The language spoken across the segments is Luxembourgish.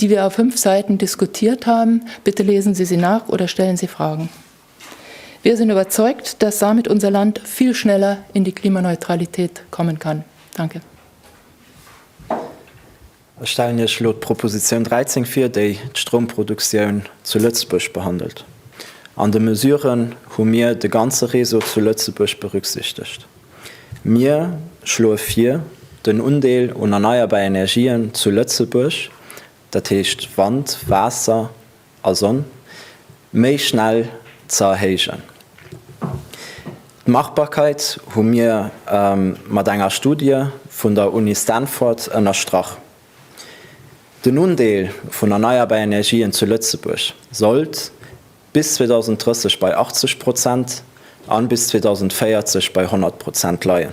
die wir auf fünf Seiten diskutiert haben, bitte lesen Sie sie nach oder stellen Sie Fragen. Wir sind überzeugt, dass damit unser Land viel schneller in die Klimaneutralität kommen kann. Danke. Ech stellen Iech elo d'Proposition 13 vir, déi d'Stromproduktioun zu Lëtzebuerg behandelt. An de Mesuren hu mir de ganze Réseau zu Lëtzebuerg berücksichtegt. Mir schloe vir, den Undeel un erneierbar Energien zu Lëtzebuerg, dat heescht Wand, Waasser a Sonn, méi schnell ze erhéijen. D'Machbarkeit hu mir mat enger Studie vun der Uni Stanford ënnerstrach. Den Undeel vun erneierbar Energien zu Lëtzebuerg sollt bis 2030 bei 80 Prozent an bis 2040 bei 100 Prozent leien.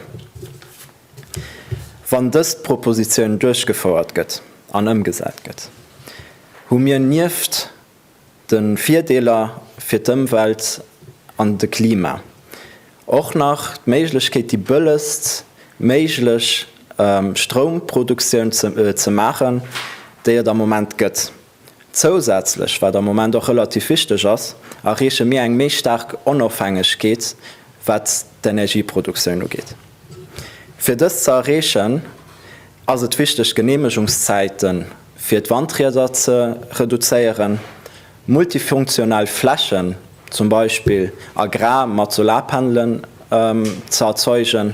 Wann dëst Propositioun duerchgefouert gëtt an ëmgesat gëtt, hu mir nieft de Virdeeler fir d'Ëmwelt an de Klima och nach d'Méiglechkeet déi bëllegst méiglech Stroumproduktioun ze maachen, déi et am Moment gëtt. Zousätzlech, wat am Moment och relativ wichteg ass, erreeche mir eng méi staark Onofhängegkeet, wat d'Energieproduktioun ugeet. Fir dëst ze erreechen, ass et wichteg, d'Geneemegungszäite fir d'Wandrieder ze reduzéieren, multifunktional Flächen, zum Beispill agrar, mat Solarpanelen ze erzeugen,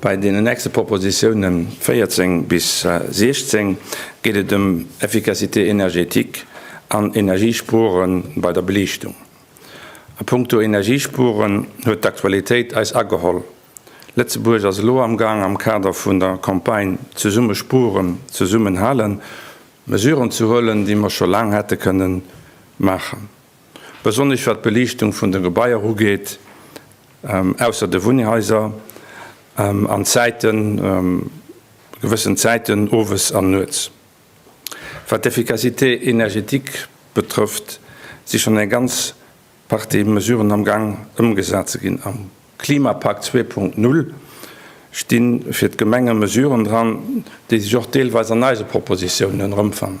Bei deenen nächste Propositione 14 bis 16 geet et ëm Efficacité énergétique an Energiespuere bei der Beliichtung. A punkto Energiespueren huet d'Aktualitéit eis ageholl. Lëtzebuerg ass elo am Gaang am Kader vun der Campagne Zesumme spueren, zesummen halen Mesuren ze huelen, déi mer scho laang hätte kënnen maachen. Besonnesch wat d'Beliichtung vun de Gebaier ugeet, ausser de Wunnhaiser, an d'Zäiten, gewëssen Zäiten owes an nuets. Wat d'Efficacité énergétique betrëfft, si schonn eng ganz Partie Mesuren am Gang ëmgesat ze ginn. Am Klimapakt zwee Punkt null sti fir d'Gemenge Mesuren dran, déi sech och deelweis an eise Propositiounen erëmfannen.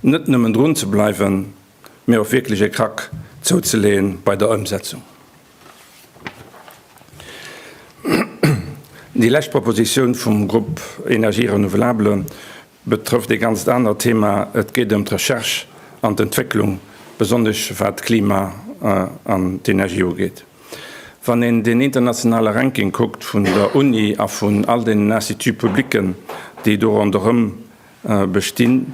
Net nëmmen drun ze bleiwen, mee och wierklech e Krack zouzeleeën bei der Ëmsetzung. Déi lescht Propositioun vum Grupp Énergies renouvelables betrëfft e ganzt anert Thema, et geet ëm d'Recherche an d'Entwécklung, besonnesch wat d'Klima an d'Energie ugeet. Wann een den internationale Ranking kuckt vun der Uni a vun all deenen Instituts publics, déi do ronderëm bestinn,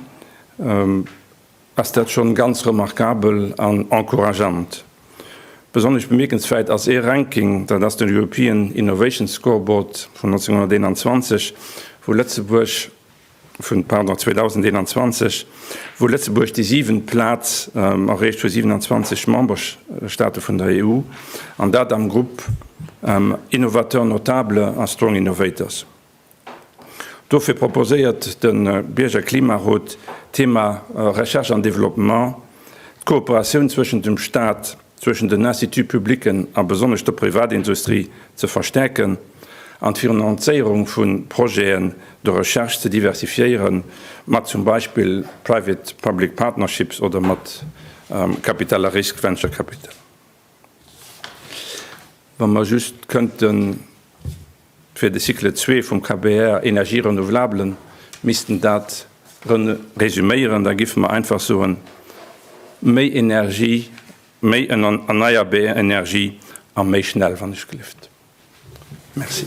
ass dat schonn ganz remarkabel an encourageant. Besonnesch bemierkenswäit ass ee Ranking, dat ass den European Innovation Scoreboard vun 1921, wou Lëtzebuerg, vun, pardon, 2021, wou Lëtzebuerg déi siwent Plaz erreecht vu 27 Memberstaate vun der EU, an dat am Grupp Innovateurs notables a Strong Innovators. Dofir proposéiert de Bierger Klimarot d'Thema Recherche an Développement, d'Kooperatioun zwëschent dem Staat, zwëschent den Instituts publiquen a besonnesch der Privatindustrie ze verstärken an d'Finanzéierung vu Projeten de recherche ze diversifiéieren, mat zum Beispill Private-public partnerships oder mat Capital à risque, Venture capital. Wa mer just kënnten fir de Cycle 2 vum KBR Energië renouvelables missten dat resuméieren, da giffe mer einfach soen, méi Energie, méi erneierbar Energie a méi schnell, wann ech gelift. Merci.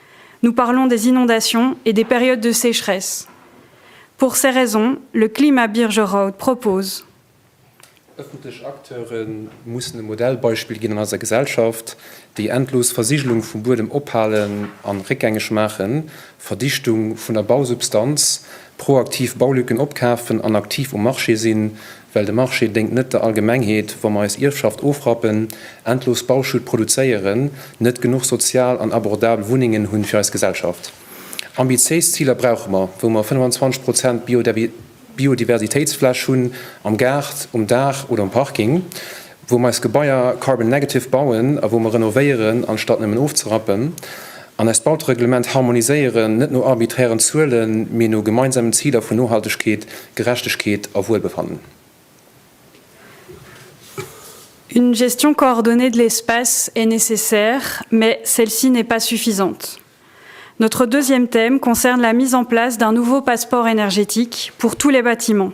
Nous parlons des inondations et des périodes de sécheresse. Pour ces raisons, le Klima Birgerraud propose. Ëffentlech Acteure mussen e Modellbeispill ginn an eiser Gesellschaft, déi endlos Versigelung vum Buedem ophalen an réckgängeg maachen, Verdichtung vun der Bausubstanz, proaktiv Baulücken opkafen an aktiv um Marché sinn, Well de Marché déngt net der Allgemengheet, wa mer eis Ierfschaft ofrappen, endlos Bauschutt produzéieren, net genuch sozial an abordabel Wunnengen hunn fir eis Gesellschaft. Ambitiéis Ziler brauche mer, wou mer 25 Prozent Biodiversitéitsfläch hunn, am Gaart, um Daach oder um Parking. wou mer eis Gebaier carbon negative bauen a wou mer renovéieren, anstatt nëmmen ofzerappen, an eist Bautereglement harmoniséieren, net no arbiträren Zuelen, mee no gemeinsamen Ziler vun Nohaltegkeet, Gerechtegkeet a Wuelbefannen. Une gestion coordonnée de l'espace est nécessaire, mais celle-ci n'est pas suffisante. Notre deuxième thème concerne la mise en place d'un nouveau passeport énergétique pour tous les bâtiments.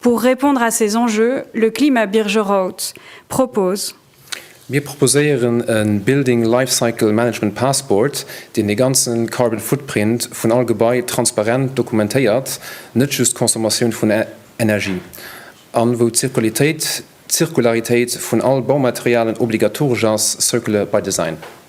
Pour répondre à ces enjeux, le Klima Birgerrouth propose. Mir proposéieren e Building Life Cycle Management Passport, deen de ganze Carbon Footprint vun all Gebai transparent dokumentéiert, net just d'Consommatioun vun Energie, an wou d'Zirkularitéit d'Zirkularitéit vun all Baumaterialen obligatoresch ass, Circular by Design.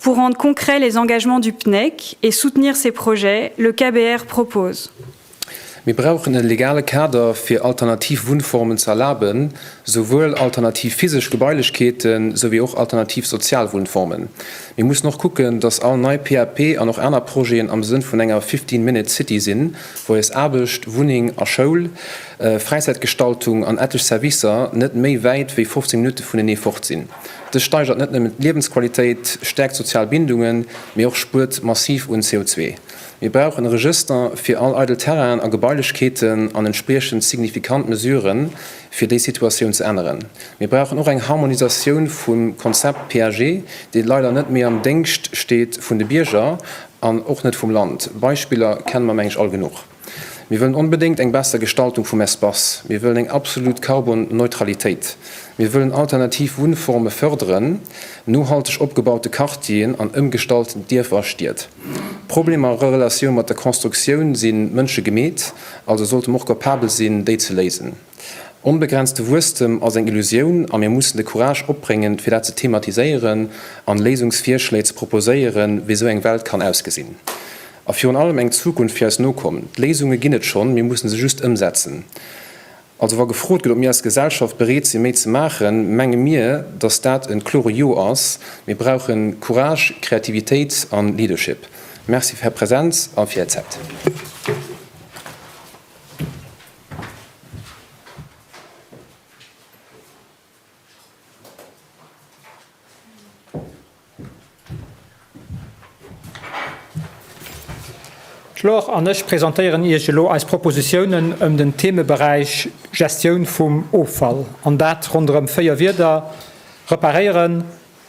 Pour rendre concrets les engagements du PNEC et soutenir ses projets, le KBR propose. Mir brauchen e legale Kader fir alternativ Wunnformen ze erlaben, souwuel alternativ physesch Gebailechkeeten, sou wéi och alternativ sozial Wunnformen. Mir mussen och kucken, dass all nei PAP an och aner Projeten am Sënn vun enger fifteen minute city sinn, wou eis Aarbecht, Wunneng a Schoul, Fräizäitgestaltung an etlech Servicer net méi wäit wéi 15 Minutte vunenee fort sinn. Dës steigert net nëmmen d'Liewensqualitéit, stäerkt d'sozial Bindungen, mee och spuert massiv un CO2. Mir brauchen e Regëster fir all eidel Terrainen a Gebailechkeeten an entspriechend signifikant Mesuren, fir déi Situatioun ze änneren. Mir brauchen och eng Harmonisatioun vum Konzept PAG, dee leider net méi am Déngscht steet vun de Bierger an och net vum Land. Beispiller kenne mer, meng ech, all genuch. Mir wëllen onbedéngt eng besser Gestaltung vum Espace. Mir wëllen eng absolut Karbon-Neutralitéit. Mir wëllen alternativ Wunnforme fërderen, nohalteg opgebaute Quartieren an ëmgestalt Dierfer a Stied. D'Problemer a Relatioun mat der Constructioun si mënschegemeet, also sollte mer och capabel sinn, déi ze léisen. Onbegrenzte Wuesstem ass eng Illusioun a mir mussen de Courage opbréngen, fir dat ze thematiséieren an Léisungsvirschléi ze proposéieren, wéi esou eng Welt kann ausgesinn. A virun allem eng Zukunft fir eis Nokomm. D'Léisunge ginn et schonn, mir mussen se just ëmsetzen. Also wa gefrot gëtt, ob mir als Gesellschaft bereet sinn, méi ze maachen, menge mir, dass dat e klore Jo ass. Mir brauchen Courage, Kreativitéit a Leadership. Merci fir Är Präsenz a fir Är Zäit. D'Laure an ech presentéieren Iech elo eis Propositiounen ëm den Themeberäich Gestioun vum Offall, an dat ronderëm véier Wierder, Reparéieren,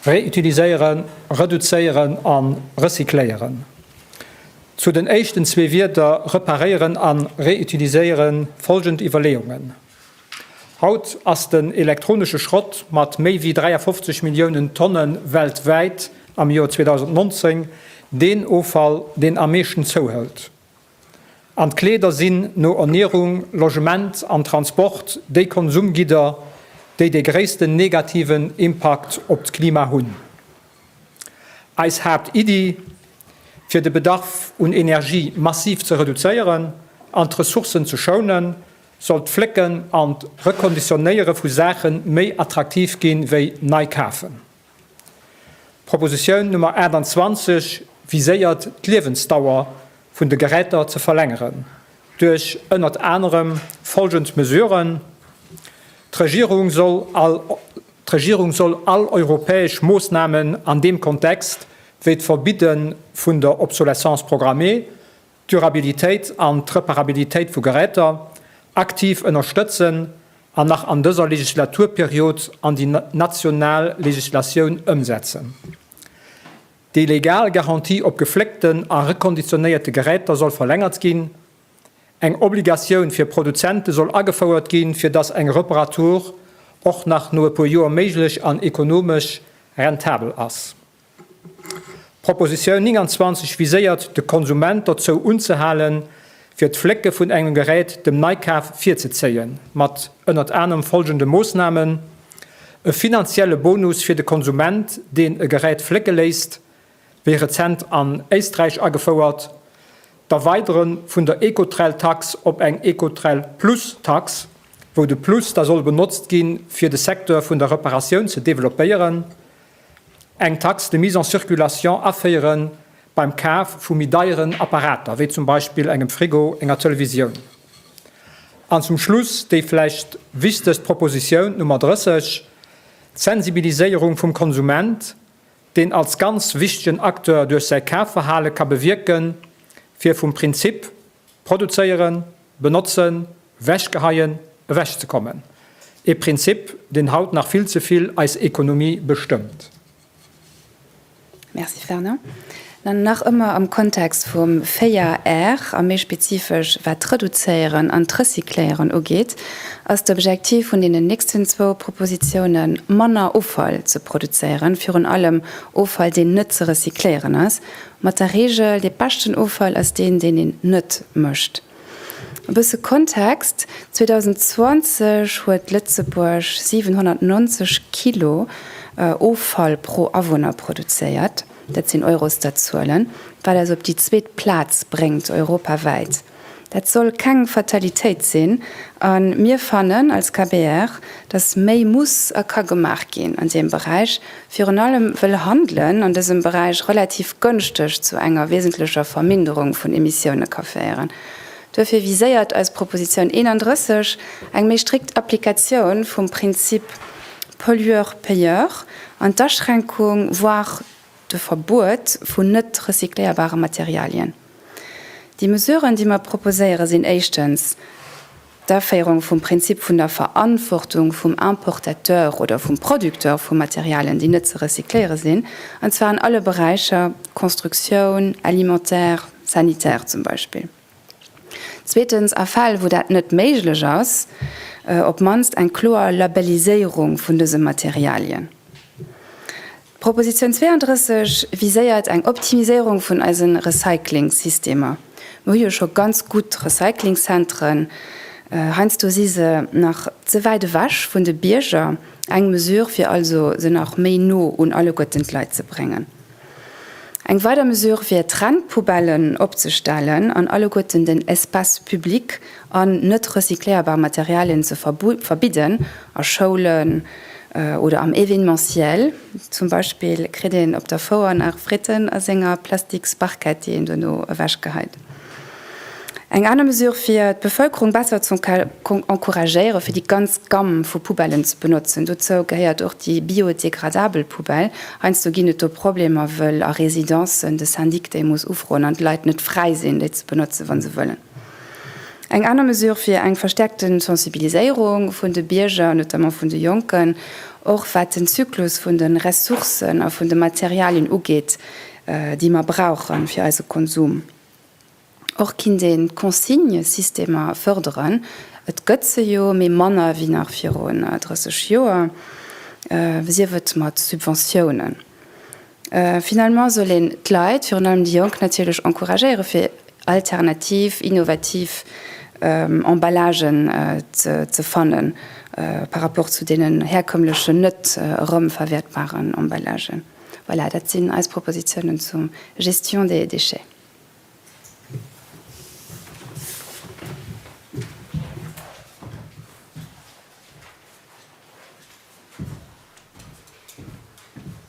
Reutiliséieren, reduzéieren a recycléieren, Zu den éischten zwee Wierder reparéieren a reutiliséiere folgend Iwwerleeungen. Haut ass den elektronesche Schrott mat méi wéi 53 Milliounen Tonne weltwäit am Joer 2019 deen Offall, deen am meeschten zouhëlt. An d'Kleeder sinn no Ernierung, Logement an Transport déi Konsumgidder, déi dee gréissten negativen Impakt op d'Klima hunn. Eis Haaptiddi, fir de Bedarf un Energie massiv ze reduzéieren an d'Ressourcen ze schounen, soll d'Flécken an d'Rekonditionéiere vu Saache méi attraktiv gi wéi nei kafen. D'Propositioun Nummer 28 viséiert d'Liewensdauer vun de Geräter ze verlängeren duerch ënnert anerem folgend Mesuren, D'Regierung soll all D'Regierung soll all europäesch Moossnamen an deem Kontext, wéi d'Verbidde vun der Obsolescence programmée, d'Durabilitéit an d'Reparabilitéit vu Geräter aktiv ënnerstëtzen an nach an dëser Legislaturperiod an déi national Legislatioun ëmsetzen. Déi legal Garantie op gefléckten a rekonditionéierte Geräter soll verlängert ginn. Eng Obligatioun fir Produzente soll agefouert ginn, fir dass eng Reparatur och nach no e puer Joer méiglech an ekonomesch rentabel ass. D'Propositioun 29 viséiert de Konsument dozou unzehalen, fir d'Flécke vun engem Gerät dem Neikaf virzezéien, mat ënnert anerem follgende Moossnamen, e finanzielle Bonus fir de Konsument, deen e Gerät flécke léisst, wéi rezent an Éisträich agefouert, d'Erweidere vun der Ecotrell-Tax op eng Ecotrell-Plus-Tax, wou de Plus da soll benotzt gi fir de Secteur vun der Reparatioun ze developpéieren, Eng Taxe de mise en circulation aféiere beim Kaf vu méi deieren Apparater, wéi zum Beispill engem Frigo, enger Televisioun. An zum Schluss déi vläicht wichtegst Proposition, d'Nummer 30, d'Sensibiliséierung vum Konsument, deen als ganz wichtegen Acteur duerch säi Kafverhale ka bewierken, fir vum Prinzip, Produzéieren, benotzen, wechgeheien, ewechzekommen. E Prinzip, deen haut nach vill ze vill eis Ekonomie bestëmmt. Merci Fernand. Nach ëmmer am Kontext vum 4 R, a méi spezifesch wat d'Reduzéieren an d'Recycléieren ugeet, ass d'Objektiv vun deenen nächsten zwou Propositiounen, manner Offall ze produzéieren, virun allem Offall, deen net ze recycléieren ass. Mat der Reegel, dee beschten Offall ass deen, deen een net mécht. E bësse Kontext, 2020 huet Lëtzebuerg 790 Kilo Offall pro Awunner produzéiert, dat sinn Eurostat-Zuelen, wat eis op déi zweet Plaz bréngt europawäit. Dat soll keng Fatalitéit sinn a mir fannen als KBR, dass méi muss a ka gemaach ginn an deem Beräich, virun allem wëll Handelen an dësem Beräich relativ gënschteg zu enger wesentlecher Verminderung vun Emissioune ka féieren. Duerfir viséiert eis Proposition 31 eng méi strikt Applikatioun vum Prinzip pollueur-payeur an d'Aschränkung, voire de Verbuet vun net recycléierbare Materialien. Déi Mesuren, déi mer proposéieren, sinn éischtens d'Aféierung vum Prinzip vun der Verantwortung vum Importateur oder vum Producteur vu Materialien, déi net ze recycléiere sinn, an zwar an alle Beräicher, Constructioun, alimentaire, sanitaire zum Beispill. Zweetens, a Fäll, wou dat net méiglech ass, op d'mannst eng kloer Labelliséierung vun dëse Materialien. D'Proposition 32 viséiert eng Optimiséierung vun eise Recyclingsystemer. Mir hu jo scho ganz gutt Recyclingzentren, heiansdo si se nach ze wäit ewech vun de Bierger. Eng Mesure wier also, se nach méi no un alleguerten d'Leit ze bréngen. Eng weider Mesure wier, Trennpoubellen opzestellen an alleguerten den Espace public an net recycléierbar Materialien ze verbidden a Schoulen oder am Événementiel. Zum Beispill kritt een op der Fouer nach Fritten a senger plastiks Barquette, déi een dono ewech geheit. Eng aner Mesure fir d'Bevëlkerung besser ze encouragéieren, fir déi ganz Gamm vu Poubellen ze benotzen. Dozou gehéiert och déi biodegradabel Poubelle. Heiansdo ginn et do Problemer, wëll a Residencen de Syndic déi muss ufroen an d'Leit net fräi sinn, déi ze benotzen, wa se wëllen. Eng aner Mesure fir eng verstärkte Sensibiliséierung vun de Bierger, notamment vun de Jonken, och wat den Zyklus vun de Ressourcen a vun de Materialien ugeet, déi mer brauche fir eise Konsum. Och kinnt een d'Consignesystemer fërderen. Et gëtt se jo, mee manner wéi nach virun 30 Joer, sief et mat Subventiounen. Finalement soll een d'Leit, virun allem déi Jonk natierlech encouragéiere fir alternativ, innovativ Emballagen ze fannen par rapport zu deenen herkömmlechen, net erëmverwäertbaren Emballagen. Voilà, dat sinn eis Propositionen zur Gestion des déchets.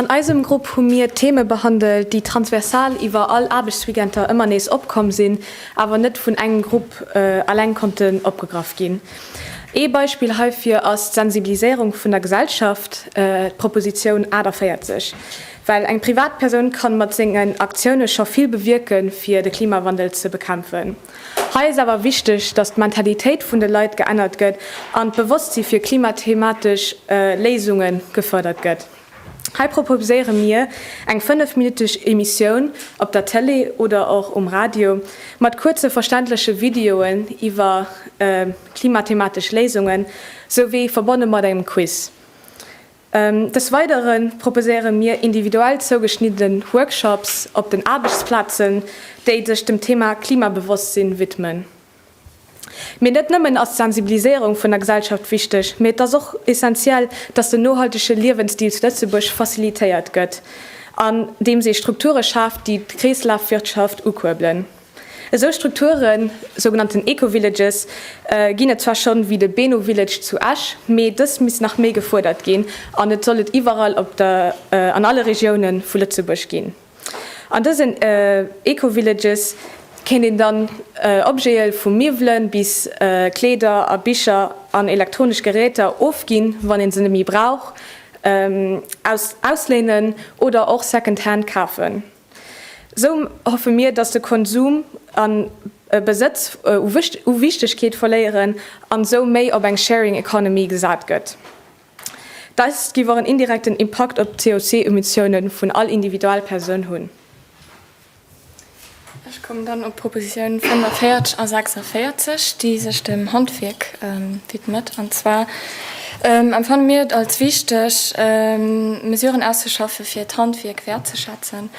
An eisem Grupp hu mir Theme behandelt, déi transversal iwwer all Aarbechtsweekender ëmmer nees opkomm sinn, awer net vun engem Grupp eleng konnten opgegraff ginn. Ee Beispill heifir ass d'Sensibiliséierung vun der Gesellschaft, d'Propositioun 48. Well eng Privatpersoun kann mat sengen Aktiounen scho vill bewierken fir de Klimawandel ze bekämpfen. Hei ass awer wichteg, dass d'Mentalitéit vun de Leit geännert gëtt an d'Bewosstsi fir klimathematesch Léisunge gefërdert gëtt. Hei proposéiere mir eng 5 minutteg Emissioun op der Tëlee oder och um Radio mat kuerze verständleche Videoen iwwer klimathematesch Léisunge souwéi verbonne mat engem Quiz. Des Weidere proposéiere mir individuell zougeschnidden Workshops op den Aarbechtsplazen, déi sech dem Thema Klimabewosstsinn widmen. Mee net nëmmen ass d'Sensibiliséierung vun der Gesellschaft wichteg, mee et ass och essentiell, dass den nohaltege Liewensstil zu Lëtzebuerg facilitéiert gëtt, andeems ee Strukture schaaft, déi d'Kreeslafwirtschaft ukuerbelen. Esou Strukturen, sougenannten Eco-Villages, ginn et zwar schonn, wéi de Beno Village zu Esch, mee dës misst nach méi gefuerdert ginn an et soll et iwwerall op der an alle Regioune vu Lëtzebuerg ginn. An dësen Eco-Villages kéint een dann Objete vu Miwwele bis Kleeder a Bicher an elektronesch Geräter ofginn, wann ee se net méi brauch, aus ausléinen oder och second-hand kafen. Esou hoffe mir, dass de Konsum an e Besëtz u Wichtegkeet verléieren an esou méi op eng Sharing Economy gesat gëtt. Dest giff och en indirekten Impakt op d'COC-Emissiounen vun all Individualpersoun hunn. Ech kommen dann op d'Propositioune 45 a 46, déi sech dem Handwierk widmet. An zwar empfanne mir et als wichteg, Mesuren auszuschaffe fir d'Handwierk wäertzeschätzen,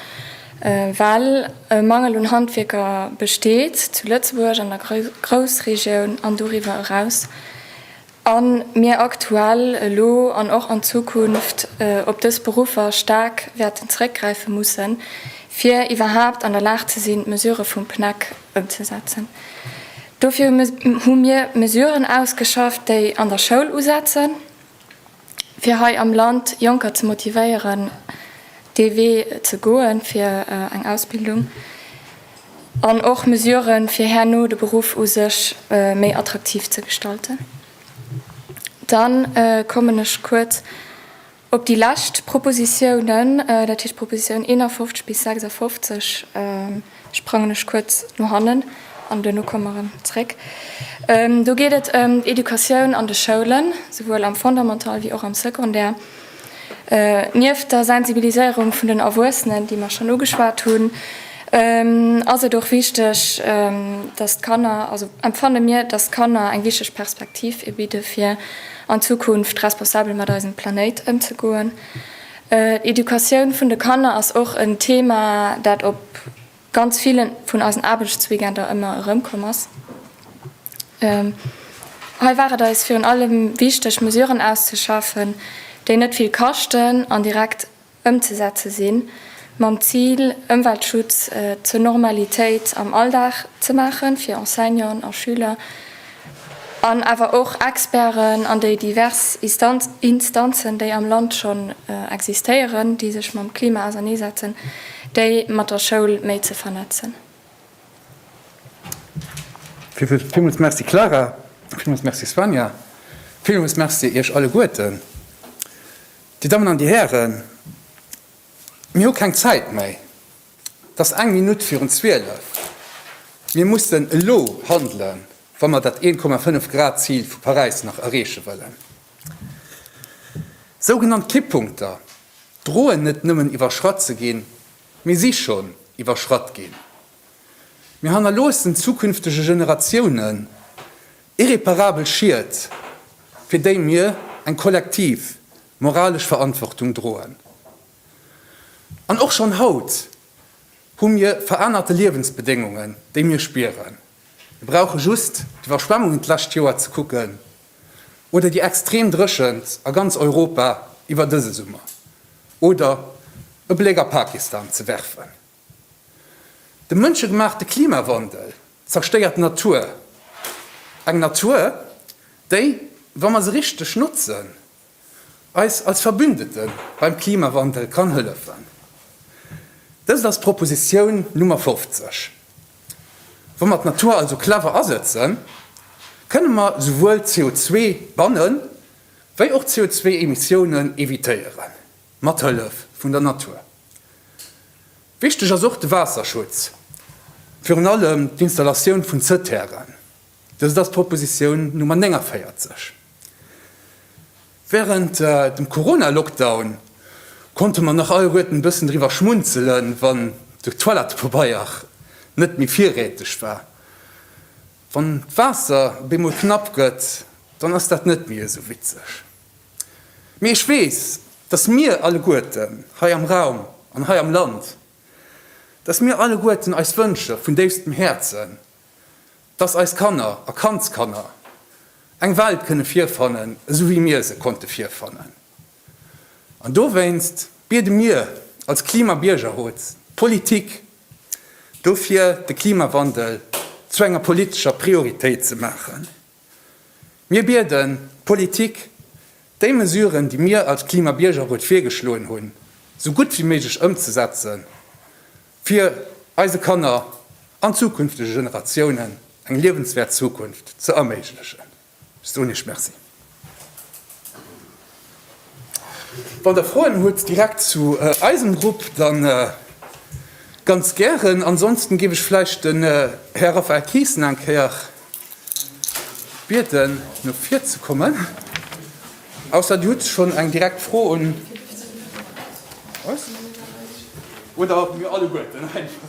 well e Mangel un Handwierker besteet zu Lëtzebuerg, an der Groussregioun an doriwwer eraus. a mir aktuell, elo an och an Zukunft op dës Beruffer staark wäerten zréckgräife mussen, fir iwwerhaapt an der Lag ze sinn, d'Mesurë vum PNEC ëmzesetzen. Dofir hu mir Mesuren ausgeschafft, déi an der Schoul usetzen. fir hei am Land Jonker ze motivéieren, dee Wee ze goen, fir eng Ausbildung, an och Mesuren, fir herno de Beruff u sech méi attraktiv ze gestalten. Dann kommen ech kuerz op déi lescht Propositionen, dat heescht d'Propositionen 51 bis 56. sprangen ech kuerz no hannen an duerno komme mer erëm zréck. Do geet et ëm d'Educatioun an de Schoulen, souwuel am Fondamental wéi och am Secondaire. Nieft der Sensibiliséierung vun den Erwuessenen, déi mer schonn ugeschwat hunn, ass et och wichteg, datt d'Kanner, also empfanne mir, datt d'Kanner eng wichteg Perspektiv bidde fir an Zukunft responsabel mat eisem Planéit ëmzegoen. D'Educatioun vun de Kanner ass och en Thema, dat op ganz ville vun eisen Aarbechtsweekender ëmmer erëmkomm ass. Hei war et eis virun allem wichteg, Mesuren auszeschaffen, déi net vill kaschten an direkt ëmzesetze sinn, mam Zil, Ëmweltschutz zur Normalitéit am Alldag ze maachen, fir Enseignanten a Schüler. an awer och Experten an déi divers Instanzen, déi am Land schonn existéieren, déi sech mam Klima auserneesetzen, déi mat der Schoul méi ze vernetzen. Villmools Merci Clara, villmools Merci Svanja, villmools Merci Iech alleguerten. Dir Dammen an Dir Hären, mir hu keng Zäit méi. 't ass eng Minutt virun zwielef. Mir mussen elo handelen, wa mer dat 1,5 Grad Zil vu Paräis nach erreeche wëllen. Sougenannt Kipppunkter droen net nëmmen iwwerschratt ze ginn, mee si schonn iwwerschratt ginn. Mir hannerloossen zukünftege Generatiounen irreparabel Schied, fir déi mir eng kollektiv moralesch Verantwortung droen. An och schonn haut hu mir verännerte Liewensbedéngungen, déi mir spieren. Mir brauche just d'Iwwerschwemmungen d'lescht Joer ze kucken oder déi extrem Dréchent a ganz Europa iwwer dëse Summer oder e Bléck a Pakistan ze werfen. De mënschegemaachte Klimawandel zerstéiert d'Natur, eng Natur, déi, wa mer se richteg notzen, eis als Verbündete beim Klimawandel kann hëllefen. Dëst ass d'Propositioun Nummer 50. Wa mer d'Natur also clever asëtzen, kënne mer souwuel CO2 bannen, wéi och CO2-Emissiounen evitéieren, mat Hëllef vun der Natur. Wichteg ass och de Waasserschutz, virun allem d'Installatioun vun Zëtteairën. Dëst ass d'Propositioun Nummer 49. Wärend dem Corona-Lockdown konnte mer nach alleguerten e bëssen driwwer schmunzelen, wann de Toilettepabeier net méi virräteg war. Wann d'Waasser op eemol knapp gëtt, dann ass dat net méi esou witzeg. Mee ech weess, dass mir alleguerten hei am Raum an hei am Land, dass mir alleguerten eis Wënsche vun déifstem Häerzen dass eis Kanner a Kandskanner eng Welt kënne virfannen, esou wéi mir se konnte virfannen. An dowéinst biede mir als Klimabiergerrot d'Politik dofir, de Klimawandel zu enger politescher Prioritéit ze maachen. Mir bieden d'Politik, déi Mesuren, déi mir als Klimabiergerrot virgeschloen hunn, esou gutt wéi méiglech ëmzesetzen fir eise Kanner an zukünftege Generatiounen eng liewenswäert Zukunft ze erméiglechen. Stonich, Merci. Wann Der Froen hutt direkt zu eisem Grupp, da ganz gären. Ansonsten géif ech vläicht den Här Raphaël Thijssen eng Kéier. Bieden no vir ze kommen, ausser Dir hutt schonn eng direkt Fro un eis, oder mir alleguerten einfach.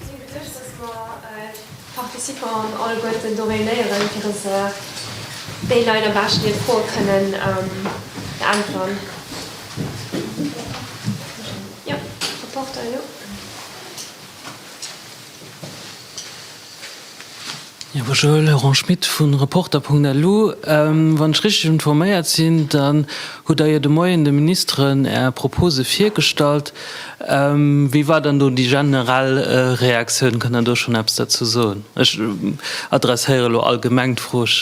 Ech hunn geduecht, dass mer d'Participants alleguerten do réunéieren, fir dass déi Leit am beschten hir Froe kënnen beäntweren. Jo, Rapporter elo. Ierwe Joël, Laurent Schmit vu Reporter.lu, Wann ech richteg informéiert sinn, dann hutt Der jo de Moien de Ministeren Är Propose virgestallt. Wéi war dann do déi generell Reaktioun? Kënnt Der do schonn eppes derzou soen? Ech adresséiere lo allgemeng d'Fro. Ech.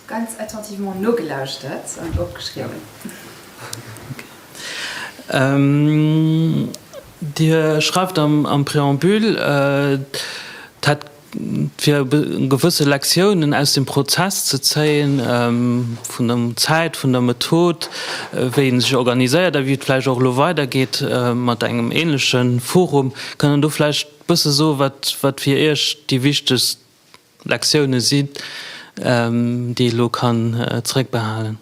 Ganz attentivement nogelauschtert an opgeschriwwen. Dir schreift am Préambule, et hätt fir gewësse Lektiounen aus dem Prozess ze zéien, vun der Zäit, vun der Method, wéi ee sech organiséiert a wéi et vläicht och elo weidergeet mat engem änleche Forum. Kann Der do vläicht e bësse soen, wat fir Iech déi wichtegst Lektioune sinn, déi ee lo kann zeréckbehalen.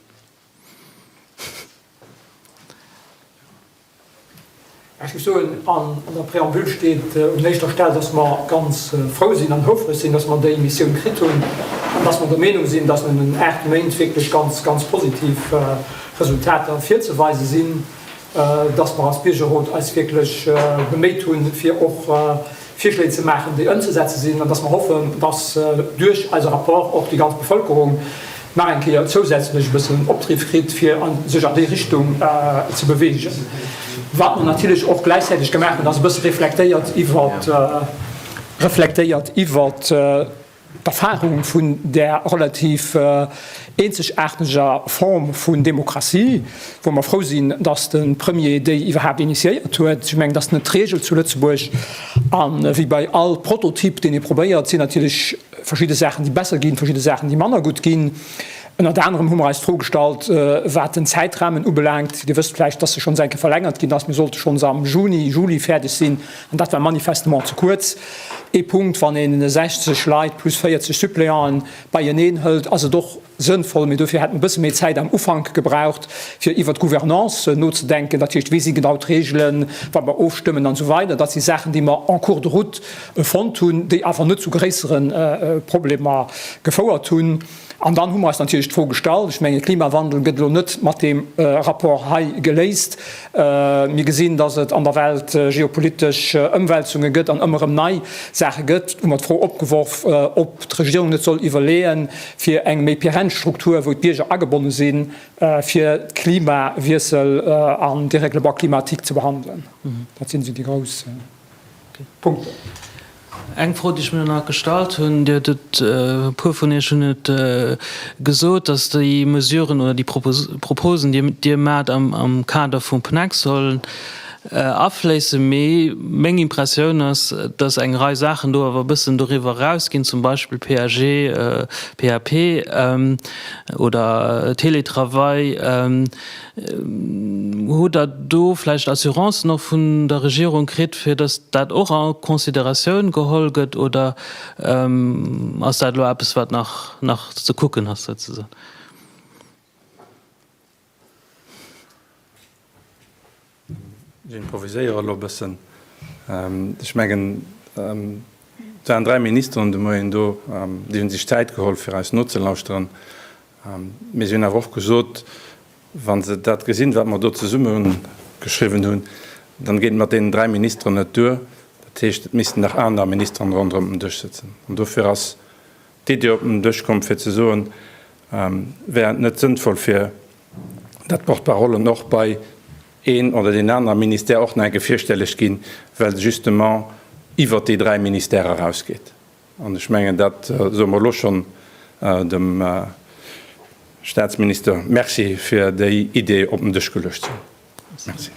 Ech muss soen, an der Preambule steet un éischter Stell, dass mer ganz frou sinn an houfreg sinn, dass mer déi Missioun kritt hunn an dass mer der Meenung sinn, dass nëmmen aacht Méint wierklech ganz, ganz positiv Resultater virzeweise sinn. dass mer als Biergerrot eis wierklech beméit hunn, fir och Virschléi ze maachen, déi ëmzesetze sinn, an dass mer hoffen, dass duerch eise Rapport och déi ganz Bevëlkerung nach eng Kéier zousätzlech e bëssen Opdriff kritt, fir sech an déi Richtung ze beweegen. Wat mer natierlech och gläichzäiteg gemaach hunn, ass e bësse reflektéiert iwwert reflektéiert iwwert D'Erfarung vun där relativ eenzegaarteger Form vun Demokratie, wou mer frou sinn, datt de Premier déi iwwerhaapt initiéiert huet, ech mengen, dat ass net d'Regel zu Lëtzebuerg, a wéi bei all Prototyp, deen ee probéiert, et sinn natierlech verschidde Saachen, déi besser ginn, verschidde Saachen, déi manner gutt ginn. Ënnert anerem hu mer eis d'Fro gestallt, wat den Zäitrahmen ubelaangt. Dir wësst vläicht, datt se schonns eng Kéier verlängert ginn ass. Mir sollte schonns am Juni, Juli fäerdeg sinn. An dat war manifestement ze kuerz. Ee Punkt, wann ee 60 Leit plus 40 Suppléanten beieneen hëlt, ass et och sënnvoll. Mee dofir hätt mer e bësse méi Zäit am Ufank gebraucht, fir iwwert d'Gouvernance nozedenken. Dat heescht, wéi si genau d'Reegelen, wat mer ofstëmmen an esou weider. Dat si Saachen, déi mer en cours de route fonnt hunn, déi awer net zu gréissere Problemer gefouert hunn. An dann hu mer eis natierlech d'Fro gestallt, ech menge Klimawandel gëtt elo net mat deem Rapport hei geléist. Mir gesinn, dass et an der Welt geopolitesch Ëmwälzunge gëtt an ëmmer erëm nei Saache gëtt. Et hu mer d'Fro opgeworf, ob d'Regierung net soll iwwerleeën, fir eng méi perenne Struktur, wou d'Bierger agebonne sinn, fir Klimawiessel an Dérèglement climatique ze behandelen. Dat sinn esou déi grouss. Punkten. Eng Fro, déi ech mir nach gestallt hunn, Dir hutt et, e puer vun Iech hunn et gesot, dass déi Mesuren oder déi Proposen, déi Dir maacht, am Kader vum PNEC sollen afléissen. Mee meng Impressioun ass, dass eng Rei Saachen do awer e bëssen doriwwer erausginn, zum Beispill PAG, PAP oder Teletravail. Hutt Der do vläicht Assurancen och vun der Regierung kritt, fir dass dat och a Consideratioun geholl gëtt, oder ass dat elo eppes, wat nach ze kucken ass souzesoen? Ech improviséiere elo e bëssen. Ech mengen, et waren dräi Ministeren de Moien do, déi hu sech Zäit geholl, fir eis nozelauschteren. Mee si hunn awer och gesot, Wa se dat gesinn, wat mer do zesummegeschriwwen hunn, dann geet et mat deenen dräi Ministeren net duer. Dat heescht, et missten nach aner Ministeren ronderëm den Dësch sëtzen. An dofir ass d'Iddi op den Dësch komm, fir ze soen, Wär et net sënnvoll, fir dat d'Porte-parollen och bei een oder deen anere Ministère och nach eng Kéier virstelleg ginn, well se justement iwwert déi dräi Ministèrë erausgeet. An ech mengen, dat soe mer elo schonn dem Statsminister Merci fir déi Idee op den Dësch geluecht ze hunn. Merci.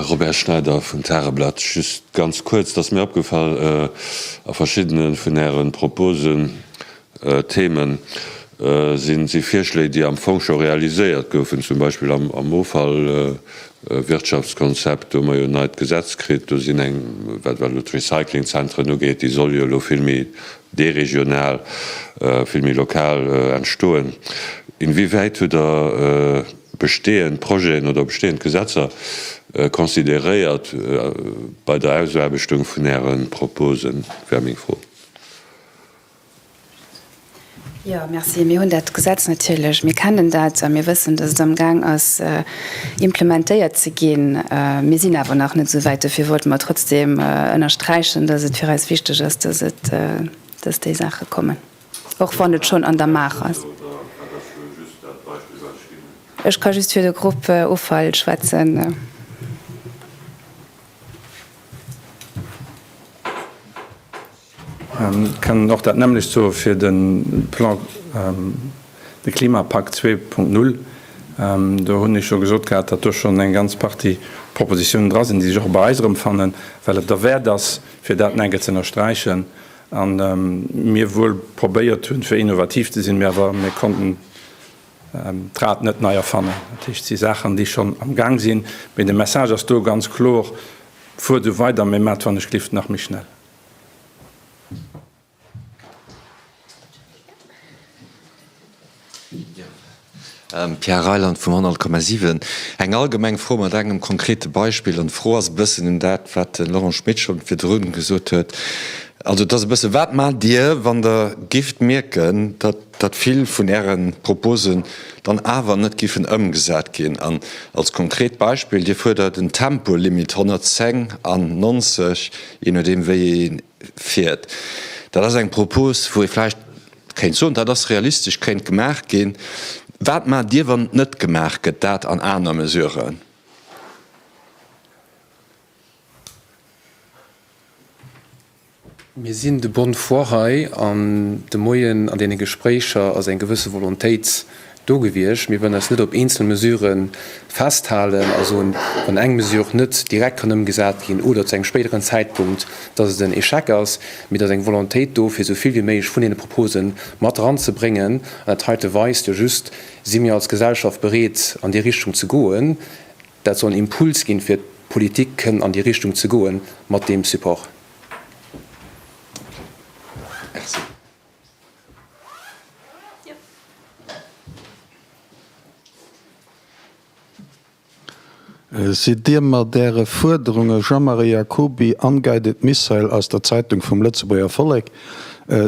Robert Schneider vum Tageblatt. Just ganz kuerz, et ass mir opgefall a verschiddene vun Äre Proposen, Themen, si Virschléi, déi am Fong scho realiséiert goufen, zum Beispill am Offallwirtschaftskonzept, do hu mer jo en neit Gesetz kritt, do sinn eng, wat d'Recyclingzentren ugeet, déi solle jo elo vill méi déi regional, vill méi lokal entstoen, inwiewäit hutt Der bestehend Projeten oder bestehend Gesetzer consideréiert bei der Ausaarbechtung vun Äre Proposen? Dat wär meng Fro. Jo, merci. Mir hunn dat Gesetz natierlech, mir kennen dat a mir wëssen, datt et amgaang ass implementéiert ze ginn. Mir sinn awer nach net esou wäit. Dofir wollte mer trotzdeem ënnersträichen, datt et fir eis wichteg ass, datt déi Saache kommen, och wann et schonn an der Maach ass. Ech ka just fir de Grupp Offall schwätzen. Kënnen och dat nämmlecht soe fir de Plan, de Klimapakt 2.0. Do hunn ech scho gesot gehat, datt do schonn eng ganz Partie Propositionen dra sinn, déi sech och bei eis erëmfannen, well et derwäert ass, fir dat nach eng Kéier ze ënnersträichen, a mir wuel probéiert hunn, fir innovativ ze sinn, mä awer mir konnten d'Rad net nei erfannen. Dat heescht, et si Saachen, déi schonn am Gaang sinn, mä de Message ass do ganz kloer, Fuert esou weider, mä maacht wann ech glift nach méi schnell. Pierre Reyland vum 100,7. Eng allgemeng Fro mat engem konkrete Beispill. An d'Fro ass e bëssen un dat, wat de Laurent Schmit scho virdrun gesot huet. Also et ass e bësse, Wat maacht Dir, wann Der géift mierken, datt datt vill vun Äre Proposen dann awer net giffen ëmgesat ginn an als konkret Beispill, Dir fuerdert en Tempolimit 110 an 90, jee nodeem wéi ee fiert. Dat ass eng Propos, wou ee vläicht kéint soen, dat ass realistesch, kéint gemaach ginn. Wat maacht Dir, wann et net gemaach gëtt, dat an aner Mesuren? Mir sinn de bonne foi hei an de Moien an deene Gespréicher ass eng gewësse Volontéit do gewiescht. Mir wëllen eis net op eenzelne Mesurë festhalen a soen, wann eng Mesure net direkt kann ëmgesat ginn oder zu engem spéideren Zäitpunkt, dass et en Échec ass. Mee et ass eng Volontéit do, fir esou vill wéi méiglech vun deene Propose mat eranzebréngen. An dat heite weist jo just, si mir als Gesellschaft bereet an déi Richtung ze goen. Dat soll en Impuls ginn, fir d'Politik kënn an déi Richtung ze goen mat deem Support. Merci. Sidd Dir mat Äre Fuerderunge, Jean-Marie Jacoby, Unguided Missile aus der Zeitung vum Lëtzebuerger Vollek,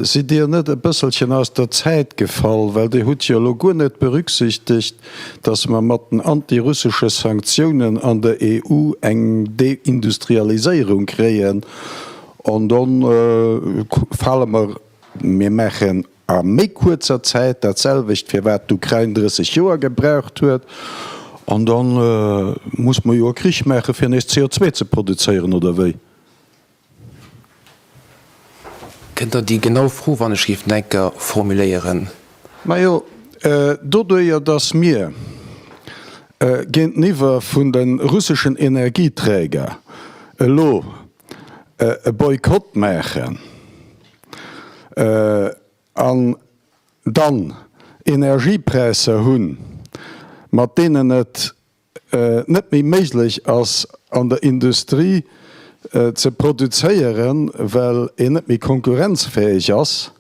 sidd Dir net e bësselchen aus der Zäit gefall? Well Dir hutt jo elo guer net berücksichtegt, datt mer mat den anti-russesche Sanktiounen an der EU eng Deindustrialiséierung kréien an do fale mer, mir maachen a méi kuerzer Zäit dat selwecht, firwat d'Ukrain 30 Joer gebraucht huet, an da muss mer jo e Krich maache fir nees CO2 ze produzéieren, oder wéi? Kënnt dann déi genau Fro, wann ech géif Necker formuléieren. Majo, doduerjer datt mir géinteniwwer vun de russeschen Energieträger elo e Boykott maachen an dann Energiepräisser hunn, mat deenen et net méi méiglech ass an der Industrie ze produzéieren, well een net méi konkurrenzfäeg ass.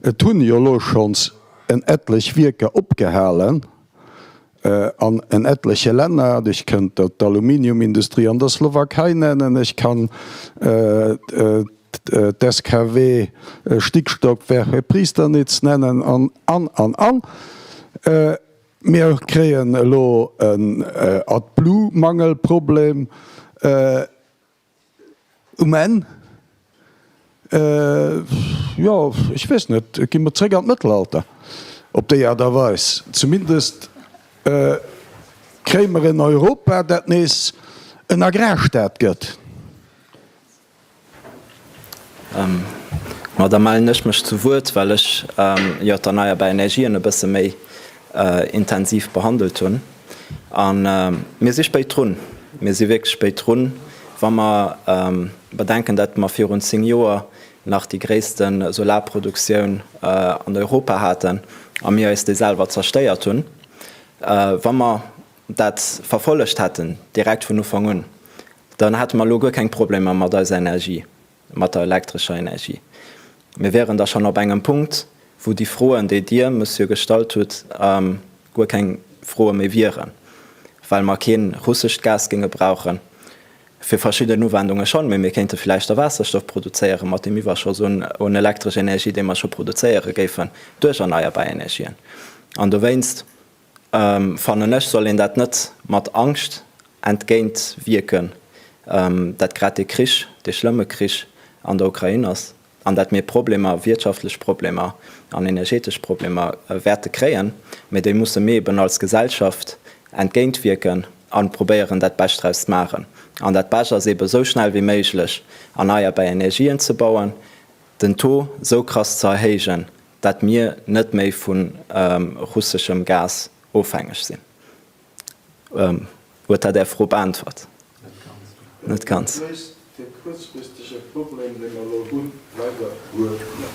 Et hunn jo elo schonns en etlech Wierker opgehalen an en etleche Länner. Ech kënnt der d'Aluminiumindustrie an der Slowakei nennen, ech kann d'SKW Stickstockwerk bei Priesterniz nennen an an an an. Mir kréien elo en AdBlue-Mangelproblem um Enn. Jo, ech weess net, gi mer zréck an d'Mëttelalter op déi Aart a Weis. Zumindest kréie mer en Europa, dat nees en Agrarstaat gëtt. Ma da mellen ech mech zu Wuert, well ech jo d'erneierbar Energien e bësse méi intensiv behandelt hunn. A mir si spéit drun, mir si wierklech spéit drun, wa mer bedenken, datt mer virun zéng Joer nach déi gréisste Solarproduktioun an Europa haten a mir eis déi selwer zerstéiert hunn. Wa mer dat verfollegt hätten, direkt vun Ufank un, dann hätte mer elo guer keng Problemer mat eiser Energie, mat der elektrescher Energie. Mir wäeren da schonn op engem Punkt, wou déi Froen, déi Dir, Monsieur, gestallt hutt, guer keng Froe méi wieren, well mer kee russescht Gas géinge brauchen, fir verschidden Uwendunge schonn, mee mir kéinte vläicht da Waasserstoff produzéieren, mat deem Iwwerschoss un elektresch Energie, dee mer scho produzéiere géifen duerch erneierbar Energien. An dowéinst Fannen ech soll een dat net mat Angscht entgéint wierken, dat grad dee Krich, dee schlëmme Krich an der Ukrain ass, an dat mir Problemer, wirtschaftlech Problemer an energetesch Problemer wäerte kréien, mee déi musse mir eben als Gesellschaft entgéint wierken a probéieren dat Bescht draus ze maachen. An dat Bescht ass eben esou schnell wéi méiglech erneierbar Energien ze bauen, den Taux esou krass ze erhéijen, dat mir net méi vu russeschem Gas ofhängeg sinn. Huet dat Är Fro beäntwert? Net ganz. Net ganz. Dat léist de kuerzfristege Problem, dee mer elo hunn, leider guer net.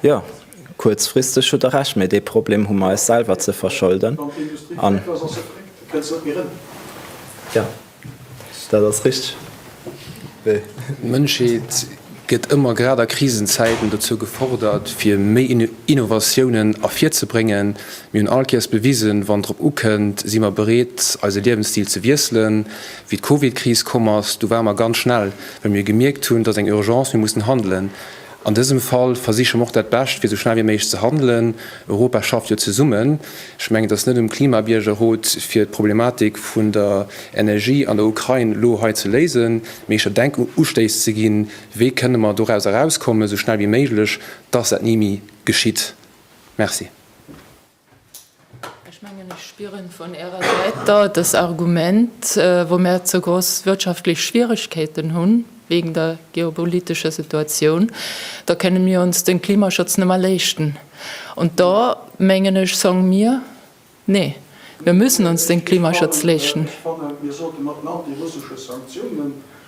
Jo, kuerzfristeg hutt Der Recht, mä dee Problem hu mer eis selwer ze verscholden. Wann d'Industrie fréck ass, ass se fréck, da kënnt se net méi erëm. Dat ass richteg, wéi. D'Mënschheet gëtt ëmmer grad a Krisenzäiten dozou gefordert, fir méi Innovatiounen ervirzebréngen. Mir hunn all Kéiers bewisen, wann drop ukënnt, si mer bereet, eise Liewensstil ze wiesselen. Wéi d'Covid-Kris komm ass, du ware mer ganz schnell, well mir gemierkt hunn, et ass eng Urgence, mir mussen handelen. An dësem Fall versiche mer och dat Bescht fir esou schnell wéi méiglech ze handelen. Europa schafft jo zesummen. Ech mengen, et ass net um Klimabiergerrot fir d'Problematik vun der Energie an der Ukrain elo hei ze léisen, mee ech denk u Ustéiss ze ginn, wéi kënne mer doraus erauskommen, esou schnell wéi méiglech, dass dat ni méi geschitt. Merci. Ech mengen, ech spieren vun Ärer Säit da dës Argument, wou mär ze gross wirtschaftlech Schwieregkeeten hunn wegen der geopolitescher Situatioun, da kënnen mir ons den Klimaschutz nëmmer leeschten. Und da mengen ech, song mir, nee, mir müssen ons den Klimaschutz leeschten. Ech fannen, mir sollten och den antirussesche Sanktiounen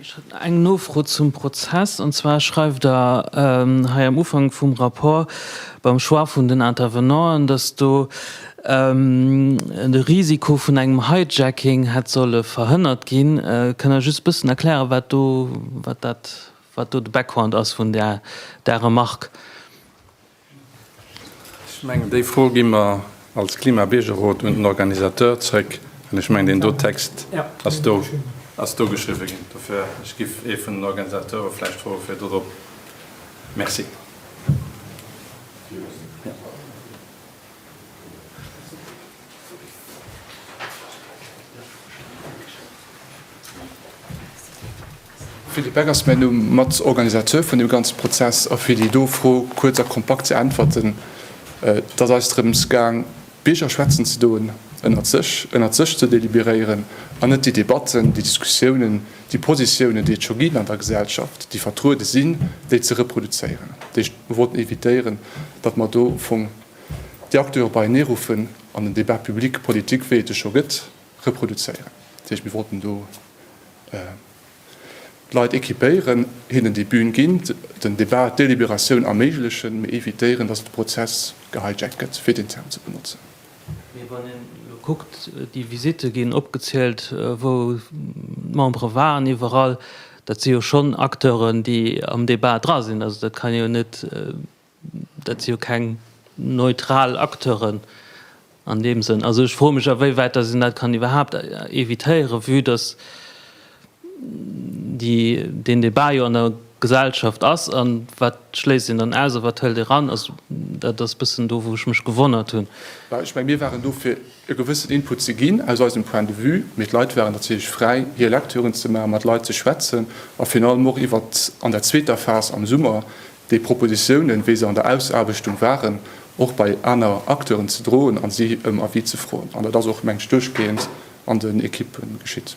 Ech hätt eng Nofro zum Prozess. An zwar schreift Der hei am Ufank vum Rapport beim Choix vun den Intervenanten, dass do de Risiko vun engem Hijacking hätt solle verhënnert ginn. Kënnt Der just e bëssen erklären, wat do, wat dat, wat do de Background ass vun där Remarque? Ech mengen, déi Fro gi mer als Klimabiergerrot un den Organisateur zrëck. An ech mengen, deen do Text ass do, ass do geschriwwe ginn. Dofir, ech giff ee vun den Organisateure vläicht froe fir dorop. Merci. Philippe Beck ass mäin Numm, Matorganisateur vun deem ganze Prozess. A fir déi do Fro kuerz a kompakt ze äntwerten, Et ass eis drëms gaang, d'Bierger schwätzen ze doen, ënnert sech, ënnert sech ze deliberéieren an net déi Debatten, déi Diskussiounen, déi Positiounen, déi et scho ginn an der Gesellschaft, déi vertruede sinn, déi ze reproduzéieren. Déi wollten evitéieren, datt mer do vum. déi aktuell och beienee-ruffen an den Débat public politique, wéi et e scho gëtt, reproduzéieren. Dat heescht, mir wollten do d'Leit équipéieren, hinnen déi Bühn ginn, den Débat, d'Déliberatioun erméiglechen, mee évitéieren, dass de Prozess gehijackt gëtt, fir deen Term ze benotzen. Mee wann een elo kuckt, déi Visitte ginn opgezielt, wou d'Membere waren, iwwerall, dat si jo schonn Acteuren, déi am Débat dra sinn. Also dat kann jo net Dat si jo keng neutral Acteuren an deem Sënn. Also ech froe mech, awéiwäit datt een dat kann iwwerhaapt evitéieren, vue datt deen Debat jo an der Gesellschaft ass. A wat schléisst een dann aus a wat hëlt ee eran? Also dat ass e bëssen do, wou ech mech gewonnert hunn. Well ech menge mir waren do, fir e gewëssen Input ze ginn aus eisem Point de vue, mee d'Leit waren natierlech fräi, hir Lektüren ze maachen, mat Leit ze schwätzen a virun allem och iwwert, an der zweeter Phas am Summer, Déi Propositiounen, wéi se an der Ausarbechtung waren, och bei aner Acteuren ze droen a si ëm Avis ze froen. An dat ass och, meng ech, duerchgehend an den Ekippe geschitt.